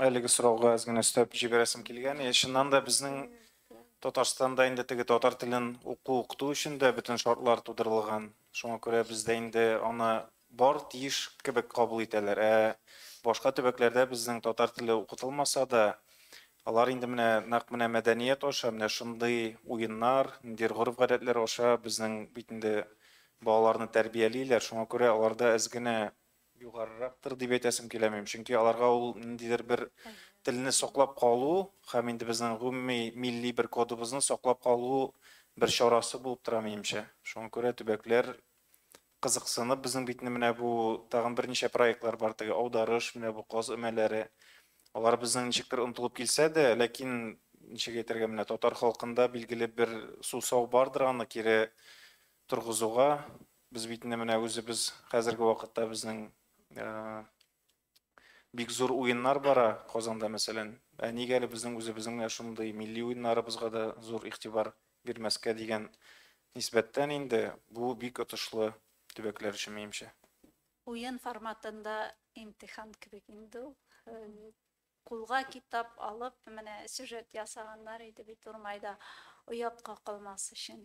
Әлеге сорауга әз генә өстәп җибәрәсем килгән. Е, чыннан да безнең Татарстанда инде теге татар телен уку укыту өчен дә бөтен шартлар тудырылган. Шуңа күрә бездә инде аны бар тиеш кебек кабул итәләр. Ә башка төбәкләрдә безнең татар теле укытылмаса да, алар инде менә нәкъ менә мәдәният аша, менә шундый уеннар, ниндидер гореф-гадәтләр аша безнең бит инде Балаларны тәрбиялиләр, шуңа күрә аларда эз генә югарырактыр дип әйтәсем киләмим, чөнки аларга ул ниндидер бер телне саклап калу һәм инде безнең гомуми милли бер кодыбызны саклап калу бер чарасы булып тора минемчә. Шуңа күрә төбәкләр кызыксынып безнең битне менә бу тагын берничә проектлар бар, теге Аударыш, менә бу Каз өмәләре. Алар безнең ничектер онтылып килсә дә, ләкин ничек әйтергә, менә татар халкында билгеле бер сусау бардыр аны кире торгызуга, без бит инде менә үзебез хәзерге вакытта безнең бик зур уеннар бара Казанда, мәсәлән. Ә нигә әле безнең үзебезнең менә шундый милли уеннарыбызга да зур игътибар бирмәскә дигән нисбәттән инде бу бик отышлы төбәкләр өчен, минемчә. Уен форматында имтихан кебек инде ул. Кулга китап алып, менә сюжет ясаганнар иде бит Урмайда, оят какылмас өчен.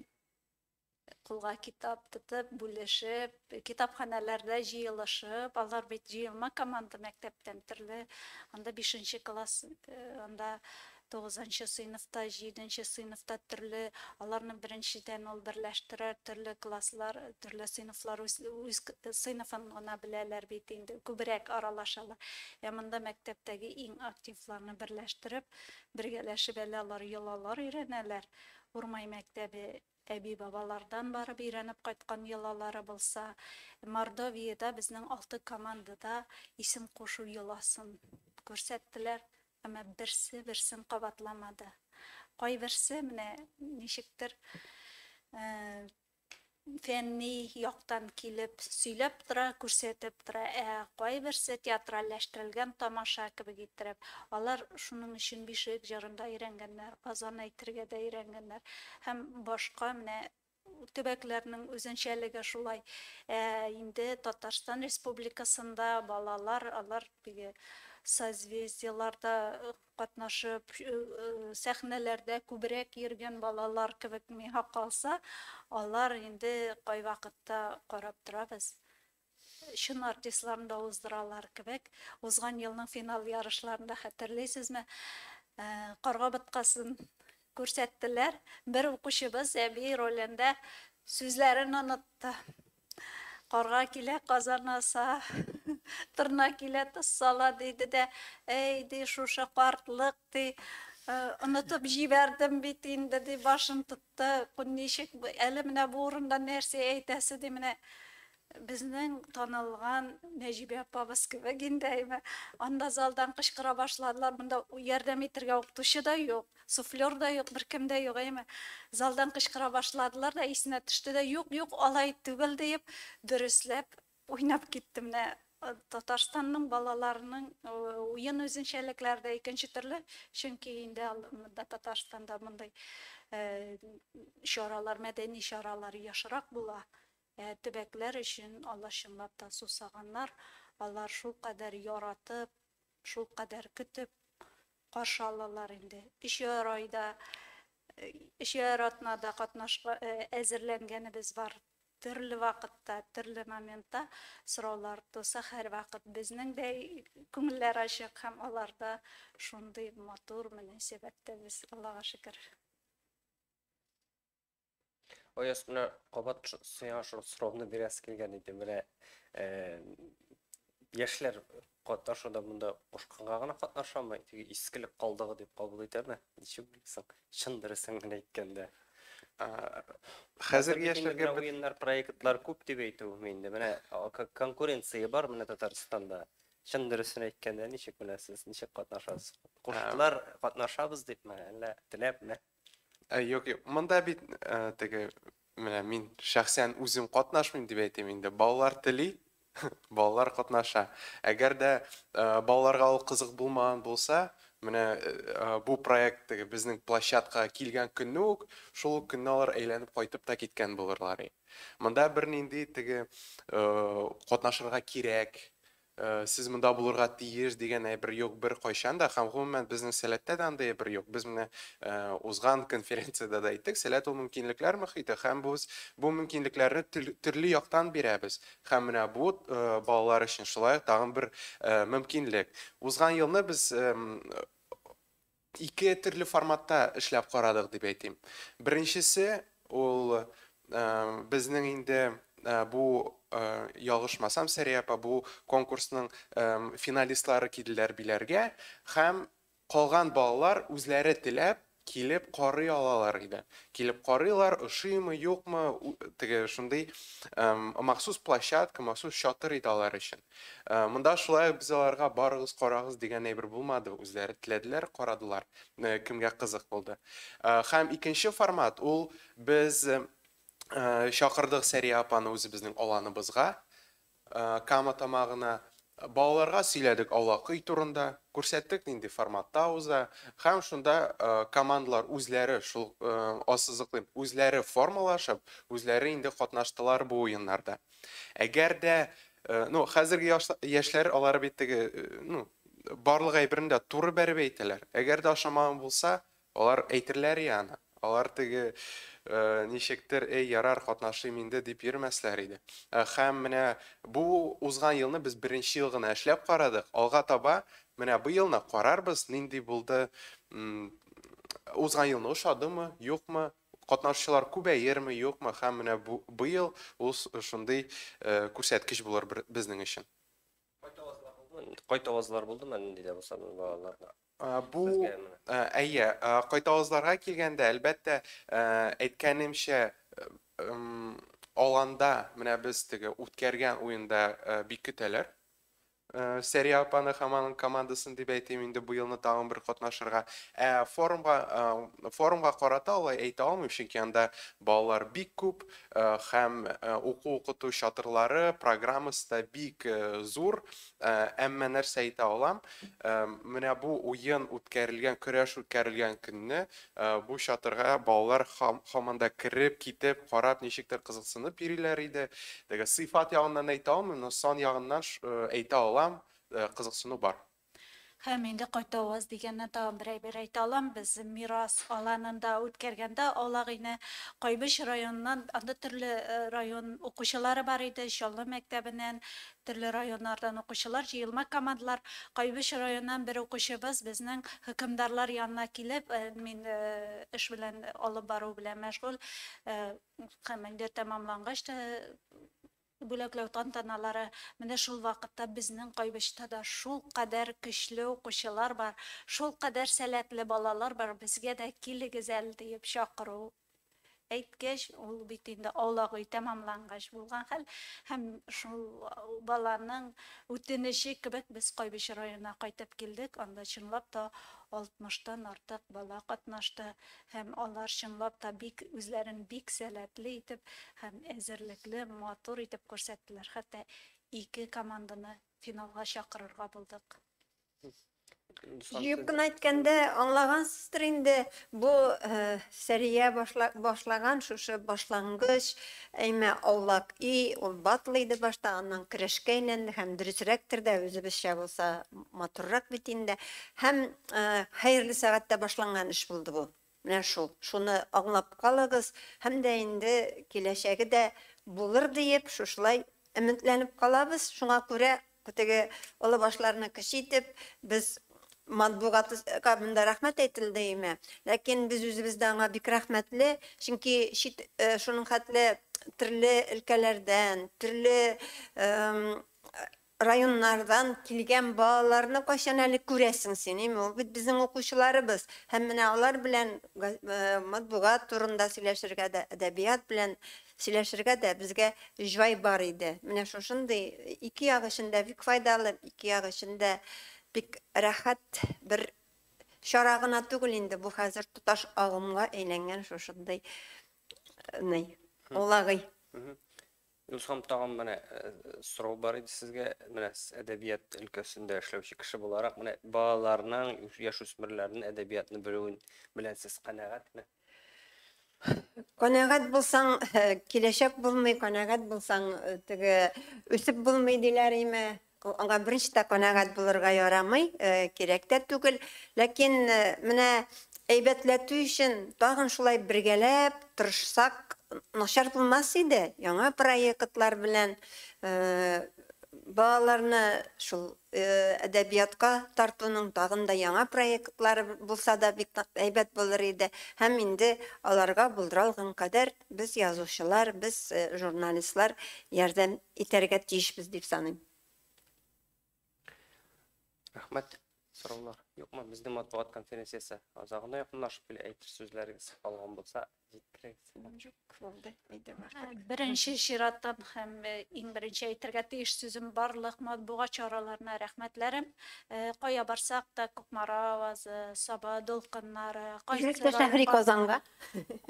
кулга китап тотып, бүлешеп, китапханәләрдә җыелышып, алар бит җыелма команда мәктәптән төрле, анда бишенче класс, э, анда тугызынчы сыйныфта, җиденче сыйныфта төрле, аларны беренчедән ул берләштерә, төрле класслар, төрле сыйныфлар үз, үз сыйныфын гына беләләр бит инде, күбрәк аралашалар. Ә монда мәктәптәге иң активларны берләштереп, бергәләшеп әле алар йолалар өйрәнәләр. Урмай мәктәбе әби-бабалардан барып өйрәнеп кайткан йолалары булса, Мордовиядә безнең алты команда да исем кушу йоласын күрсәттеләр, әмма берсе берсен кабатламады. Кайберсе, менә ничектер, фәнни яктан килеп, сөйләп тора, күрсәтеп тора, ә кайберсе театральләштерелгән тамаша кебек иттереп. Алар шуның өчен Бишек җырын да өйрәнгәннәр, азан әйтергә дә өйрәнгәннәр һәм башка менә төбәкләрнең үзенчәлеге шулай. Ә инде Татарстан Республикасында балалар, алар теге созвездиеларда катнашып, сәхнәләрдә күбрәк йөргән балалар кебек миңа калса, алар инде кайвакытта карап торабыз, чын артистларны да уздыралар кебек. Узган елның финал ярышларында хәтерлисезме, Карга боткасын күрсәттеләр, бер укучыбыз әби ролендә сүзләрен онытты. Карга килә, казан аса, торна килә, тоз сала, диде дә, әй, ди, шушы картлык, ди, онытып җибәрдем бит инде, ди, башын тотты, ничек, әле менә бу урында нәрсә әйтәсе, ди, менә безнең танылган Нәҗибә апабыз кебек инде әйме. Анда залдан кычкыра башладылар, монда ярдәм итәргә укытучы да юк. Суфлер да юк, беркем дә юк, әйеме? Залдан кычкыра башладылар да, исенә төште дә, юк, юк, алай түгел, диеп, дөресләп уйнап китте. Менә Татарстанның балаларының уен үзенчәлекләре дә икенче төрле, чөнки инде монда Татарстанда мондый чаралар, мәдәни чаралар ешрак була. Ә төбәкләр өчен алар чынлап та сусаганнар, алар шулкадәр яратып, Шулкадәр көтеп каршы алалар инде. Өчәр айда, өчәр атнада катнашка әзерләнгәнебез бар. Төрле вакытта, төрле моментта сораулар туса, һәрвакыт безнең дә күңелләр ачык һәм алар да шундый матур мөнәсәбәттә без, Аллага шөкер. Ой астына кабат сиңа шул сорауны бирәсе килгән иде. Менә э, яшьләр катнашуда монда кушканга гына катнашамы, теге искелек калдыгы дип кабул итәме? Ничек белсең? Чын дөресен генә әйткәндә. Хәзерге яшьләргә уеннар, проектлар күп дип әйтү инде. Менә конкуренция бар менә Татарстанда. Чын дөресен әйткәндә, ничек беләсез, ничек катнашасыз? Куштылар, катнашабыз дипме, әллә теләпме? Ә, юк, юк. Монда бит ә, теге менә мин шәхсән үзем катнашмыйм дип әйтим инде. Балалар тели, балалар катнаша. Әгәр дә ә, балаларга ул кызык булмаган булса, менә ә, бу проект теге безнең площадкага килгән көнне үк, шул ук көнне алар әйләнеп кайтып та киткән булырлар. и. Монда бернинди теге ә, катнашырга кирәк, Сез монда булырга тиеш дигән әйбер юк беркайчан да һәм гомумән безнең Сәләттә дә андый әйбер юк. Без менә узган конференциядә дә әйттек, Сәләт ул мөмкинлекләр мөхите һәм без бу мөмкинлекләрне төрле яктан бирәбез. Һәм менә бу балалар өчен шулай ук тагын бер мөмкинлек. Узган елны без Ике төрле форматта эшләп карадык дип әйтим. Беренчесе, ул безнең инде бу ялгышмасам, Сәрия апа, бу конкурсның финалистлары килделәр биләргә һәм калган балалар үзләре теләп килеп карый алалар иде. Килеп карыйлар, ошыймы, юкмы, теге шундый махсус площадка, махсус чатыр иде алар өчен. Монда шулай ук без аларга барыгыз карагыз дигән әйбер булмады, үзләре теләделәр, карадылар, кемгә кызык булды. Һәм икенче формат ул без чакырдык Сәрия апаны үзебезнең аланыбызга, Кама Тамагына. Балаларга сөйләдек аулак өй турында, күрсәттек нинди форматта уза һәм шунда командалар үзләре шул, ассызыклыйм, үзләре формалашып, үзләре инде катнаштылар бу уеннарда. Әгәр дә, ну, хәзерге яшьләр алар бит теге, ну, барлык әйберен дә туры бәреп әйтәләр. Әгәр дә ошамаган булса, алар әйтерләр и аны. Алар теге ничектер, эй, ярар, катнашыйм инде дип йөрмәсләр иде. Хәм менә бу узган елны без беренче ел гына эшләп карадык. Алга таба менә бу елны карарбыз, нинди булды, узган елны ошадымы, юкмы, Катнашучылар күбәерме, юкмы һәм менә бу быел ул шундый күрсәткеч булыр безнең өчен. Кайт авазлар булдымы? Кайт авазлар булдымы нинди дә булса бу балаларга? Бу, әйе, кайт авазларга килгәндә, әлбәттә, әйткәнемчә, аланда менә без теге үткәргән уенда бик көтәләр. Сәрия апаны һәм аның командасын дип әйтим инде бу елны тагын бер катнашырга. Ә форумга форумга карата алай әйтә алмыйм, чөнки анда балалар бик күп һәм уку-укыту чатырлары, программасы да бик зур. Әмма нәрсә әйтә алам, менә бу уен үткәрелгән, көрәш үткәрелгән көнне Бу чатырга балалар һаман да кереп, китеп, карап, ничектер кызыксынып йөриләр иде. Теге сыйфат ягыннан әйтә алмыйм, но сан ягыннан әйтә алам, кызыксыну бар. Һәм инде кайтавыз дигәннән тагын бер әйбер әйтә алам, без Мирас аланында үткәргәндә Алагыйне Кайбыч районыннан, анда төрле район укучылары бар иде, Чаллы мәктәбеннән, Төрле районнардан укучылар җыелма командалар, Кайбыч районыннан бер укучыбыз безнең хөкемдарлар янына килеп, мин эш белән алып бару белән мәшгуль, гамәлгә тәмамлангач та бүләкләү тантаналары, менә шул вакытта безнең Кайбычта да шулкадәр көчле укучылар бар, шулкадәр сәләтле балалар бар, безгә дә килегез әле диеп чакыру Әйткәч, ул бит инде аулак өй тәмамлангач булган хәл. Һәм шул баланың үтенече кебек без Кайбыч районына кайтып килдек. Анда чынлап та 60 тан артык бала катнашты. Һәм алар чынлап та бик үзләрен бик сәләтле итеп һәм әзерлекле, матур итеп күрсәттеләр. Хәтта ике команданы финалга чакырырга булдык. Җыеп кына әйткәндә, аңлагансыздыр инде, бу э, Сәрия башла, башлаган шушы башлангыч әйме аулак и, ул батл иде башта, аннан керәшкә әйләнде һәм дөресрәктер дә үзебезчә булса матуррак бит инде. Һәм э, хәерле сәгатьтә башланган эш булды бу. Менә шул, шуны аңлап калыгыз һәм дә инде киләчәге дә булыр диеп, шушылай өметләнеп калабыз. Шуңа күрә теге олы башларны кече итеп, без матбугатка монда рәхмәт әйтелде име, ләкин без үзебез дә аңа бик рәхмәтле, чөнки чит шуның хәтле төрле өлкәләрдән, төрле Районнардан килгән балаларны кайчан әле күрәсең син, ими ул бит безнең укучыларыбыз. Һәм менә алар белән матбугат турында сөйләшергә дә, әдәбият белән сөйләшергә дә безгә җай бар иде. Менә шушындый ике як өчен дә бик файдалы, ике як өчен дә бик рәхәт бер чара гына түгел инде бу хәзер тоташ агымга әйләнгән шушындый ный улагый. Дускам, тагын менә сорау бар иде сезгә. Менә сез әдәбият өлкәсендә эшләүче кеше буларак, менә балаларның, яшүсмерләрнең әдәбиятны белүен белән сез канәгатьме? Канәгать булсаң, киләчәк булмый, канәгать булсаң, теге үсеп булмый диләр име? Аңа беренче дә канәгать булырга ярамый, кирәк тә түгел. Ләкин менә әйбәтләтү өчен тагын шулай бергәләп тырышсак, начар булмас иде. Яңа проектлар белән балаларны шул әдәбиятка тартуның тагын да яңа проектлары булса да бик әйбәт булыр иде. Һәм инде аларга булдыралган кадәр Без язучылар, без журналистлар ярдәм итәргә тиешбез дип саныйм. Рәхмәт. Сораулар юкмы? Безнең матбугат конференциясе азагына якынлашып килә, әйтер сүзләрегез калган булса, җиткерегез. Юк, булды, әйдәм артык. Беренче чиратта һәм иң беренче әйтергә тиеш сүзем барлык матбугат чараларына рәхмәтләрем. Кая барсак та, Кукмара авазы, Саба дулкыннары, кайсы Шәһри Казанга.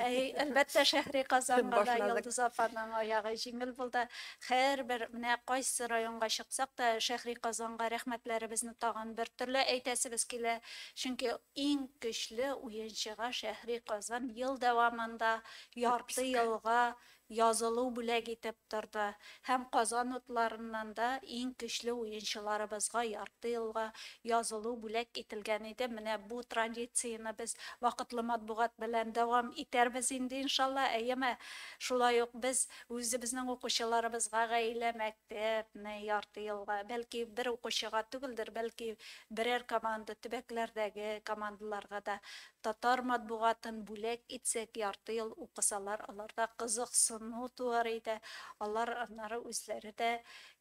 Әй, әлбәттә, шәһри Казанга да Йолдыз апаның аягы җиңел булды. Һәрбер, менә кайсы районга чыксак та, шәһри Казанга рәхмәтләребезне тагын бер төрле әйтәсебез килә. Чөнки иң көчле уенчыга шәһри Казан ел дәвамында ярты елга Язылу бүләк итеп торды һәм Казан утларыннан да иң көчле уенчыларыбызга ярты елга язылу бүләк ителгән иде. Менә бу традицияне без вакытлы матбугат белән дәвам итәрбез инде, иншалла, әйеме? Шулай ук без үзебезнең укучыларыбызга гаилә мәктәпне ярты елга, бәлки бер укучыга түгелдер, бәлки берәр команда, төбәкләрдәге командаларга да Татар матбугатын бүләк итсәк, ярты ел укысалар, аларда кызыксыну туар иде, алар аннары үзләре дә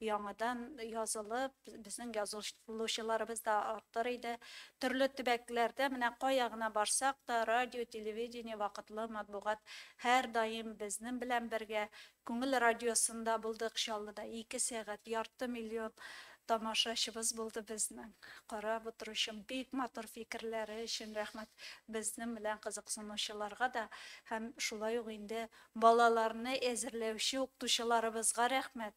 яңадан язылып, безнең язылучыларыбыз да артыр иде. Төрле төбәкләрдә, менә кая гына барсак та, радио, телевидение, вакытлы матбугат һәрдаим безнен белән бергә, Күңел радиосында булдык Чаллыда, ике сәгать, ярты миллион тамашачыбыз булды безнең. Карап утыручым, бик матур фикерләре өчен рәхмәт, безнең белән кызыксынучыларга да һәм шулай ук инде балаларны әзерләүче укытучыларыбызга рәхмәт,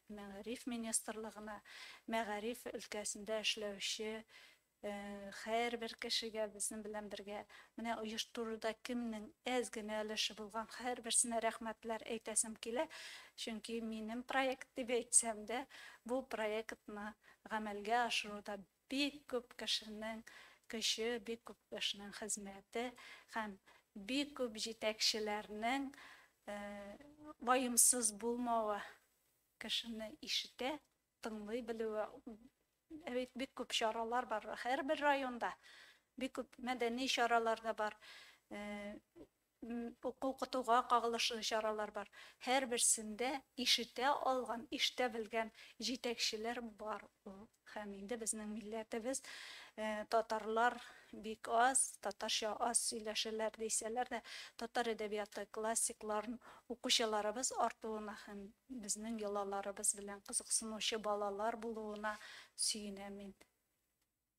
Мәгариф министрлыгына мәгариф өлкәсендә эшләүче һәрбер кешегә, безнең белән бергә менә оештыруда кемнең әз генә өлеше булган һәрберсенә рәхмәтләр әйтәсем килә, чөнки минем проект дип әйтсәм дә, бу проектны гамәлгә ашыруда Бик күп кешенең көче, бик күп кешенең хезмәте һәм бик күп җитәкчеләрнең ваемсыз булмавы, кешене ишетә, тыңлый белүе, бит бик күп чаралар бар, һәрбер районда бик күп мәдәни чаралар да бар. Уку-укытуга кагылышлы чаралар бар. Һәрберсендә ишетә алган, ишетә белгән җитәкчеләр бар ул. Һәм инде безнең милләтебез, татарлар бик аз, татарча аз сөйләшәләр дисәләр дә, татар әдәбияты классикларын укучыларыбыз артуына һәм безнең йолаларыбыз белән кызыксынучы балалар булуына сөенәм мин.